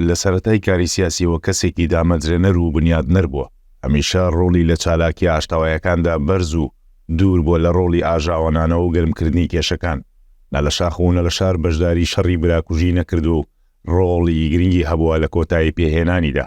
لە سەرەتای کاری سیاسییەوە کەسێکی دامەزرێنەر و بنیادنەر بووە. هەمیشە ڕۆڵی لە چالاکییە ئاشتەوایەکاندا بەرز و دوور بووە لە ڕۆڵی ئاژاوەنانەوە و گەرمکردنی کێشەکان. نە لە شاخ و نە لە شار بەشداری شەڕی براکوژی نەکردووە و ڕۆڵی گرنگی هەبووە لە کۆتاییپێهێنانیدا.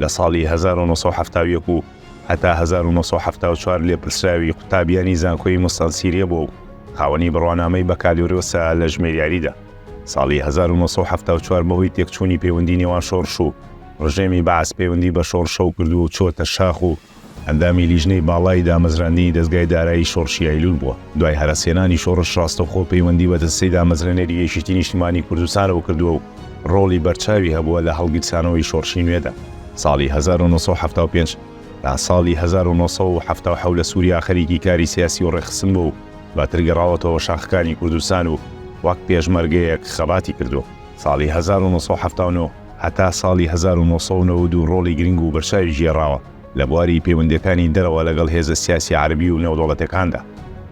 لە ساڵی هەزار و نۆ سەد و حەفتا و یەک و هەتا هەزار و نۆ سەد و حەفتا و چوار لێپرسراوی قوتابیانی زانکۆی موستەنسیریە بووە و خاوەنی بڕوانامەی بەکالۆرۆسە لە ژمێریاریدا. ساڵی هەزار و نۆ سەد و حەفتا و چوار بەهۆی تێکچوونی پەیوەندی نێوان شۆڕش و ڕژێمی بەعس پەیوەندی بە شۆڕشەوە کردووە و چووەتە شاخ و ئەندامی لیژنەی باڵای دامەزراندنی دەزگای دارایی شۆڕشی ئەیلول بووە. دوای هەرەسهێنانی شۆڕش ڕاستەوخۆ پەیوەندی بە دەستەی دامەزرێنەری یەکێتی نیشتیمانی کوردستانەوە کردووە و ڕۆڵی بەرچاوی هەبووە لە هەڵگیرسانەوەی شۆڕشی نوێدا. ساڵی هەزار و نۆ سەد و حەفتا و پێنج تا ساڵی هەزار و نۆ سەد و حەفتا و حەوت لە سوریا خەریکی کاری سیاسی و ڕێکخستن بووە و دواتر گەڕاوەتەوە شاخەکانی کوردستان و وەک پێشمەرگەیەک خەباتی کردووە. ساڵی هەزار و نۆ سەد و حەفتا و نۆ. هەتا ساڵی هەزار و نۆ سەد و نەوەد و دوو ڕۆڵی گرنگ و بەرچاوی گێڕاوە لە بواری پەیوەندییەکانی دەرەوە لەگەڵ هێزە سیاسی عەرەبی و نێودەوڵەتیەکاندا.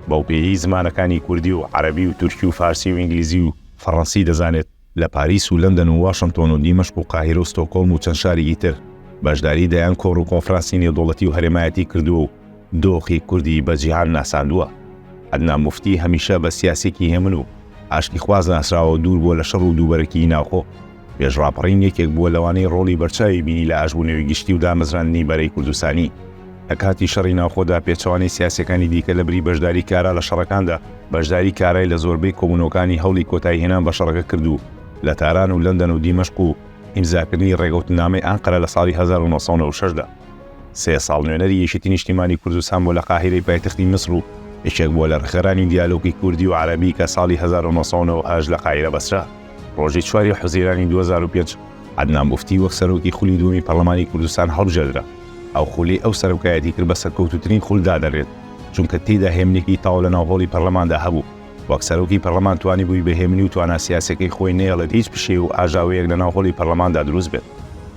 بەو پێیەی زمانەکانی کوردی و عەرەبی و تورکی و فارسی و ئینگلیزی و فەڕەنسی دەزانێت، لە پاریس و لەندەن و واشنتۆن و دیمەشق و قاهیرە و ستۆکۆڵم و چەند شارێکی تر بەشداری دەیان کۆڕ و کۆنفرانسی نێودەوڵەتی و هەرێمایەتی کردووە و دۆخی کوردی بە جیهان ناساندووە. عەدنان موفتی هەمیشە بە سیاسیەکی هێمن و ئاشتیخواز ناسراوە دوور بووە لە شەڕ و دووبەرەکیی ناوخۆ، مێژ ڕاپەڕین یەکێک بووە لەوانەی ڕۆڵی بەرچاوی بینی لە ئاشبوونەوەی گشتی و دامەزراندنی بەرەی کوردستانی. لە کاتی شەڕی ناوخۆدا پێچەوانەی سیاسیەکانی دیکە لە بری بەشداری کارا لە شەڕەکاندا، بەشداری کارای لە زۆربەی کۆبوونەوەکانی هەوڵی کۆتایی هێنان بە شەڕەکە کرد و لە تاران و لەندەن و دیمەشق و ئیمزاکردنی ڕێگەوتننامەی ئەنقەرە لە ساڵی هەزار و نۆ سەد و نەوەد و شەش دا، سێ ساڵ نوێنەری یەکێتی نیشتیمانی کوردستان بووە لە قاهیرەی پایتەختی میسر و یەکێک بووە لە ڕێکخەرانی دیالۆگی کوردی و عەرەبی کە ساڵی هەزار و نۆ سەد و نەوەد و هەشت لە قاهیرە بەسرا. ڕۆژی چوار ی حوزیرانی دوو هەزار و پێنج عەدنان موفتی وەک سەرۆکی خولی دووەمی پەرلەمانی کوردستان هەڵبژێردرا، ئەو خولەی ئەو سەرۆکایەتی کرد بە سەرکەوتووترین خول دادەنرێت، چونکە تێیدا هێمنێکی تەواو لەناو هۆڵی پەرلەماندا هەبوو، وەک سەرۆکی پەرلەمان توانیبووی بە هێمنی و توانا سیاسیەکەی خۆی نەیەڵێت هیچ پشێو و ئاژاوەیەک لەناو هۆڵی پەرلەماندا دروست بێت،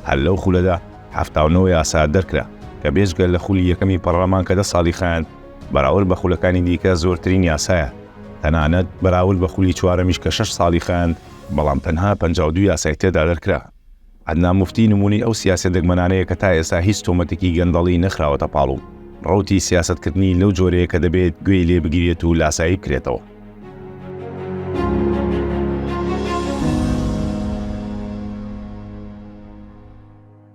هەر لەو خولەدا حەفتا و نۆ یاسا دەرکرا، کە بێجگە لە خولی یەکەمی پەرلەمان کە دە ساڵی خایاند، بەراورد بە خولەکانی دیکە زۆرترین یاسایە، تەنانەت بەراورد بە خولی چوارەمیش کە شەش ساڵی خایاند، بەڵام تەنها پەنجا و دوو یاسای تێدا دەرکرا. عەدنان موفتی نموونەی ئەو سیاسیە دەگمەنانەیە کە تا ئێستا هیچ تۆمەتێکی گەندەڵی نەخراوەتە پاڵ و ڕەوتی سیاسەتکردنی لەو جۆرەیە کە دەبێت گوێی لێ بگیرێت و لاسایی بکرێتەوە.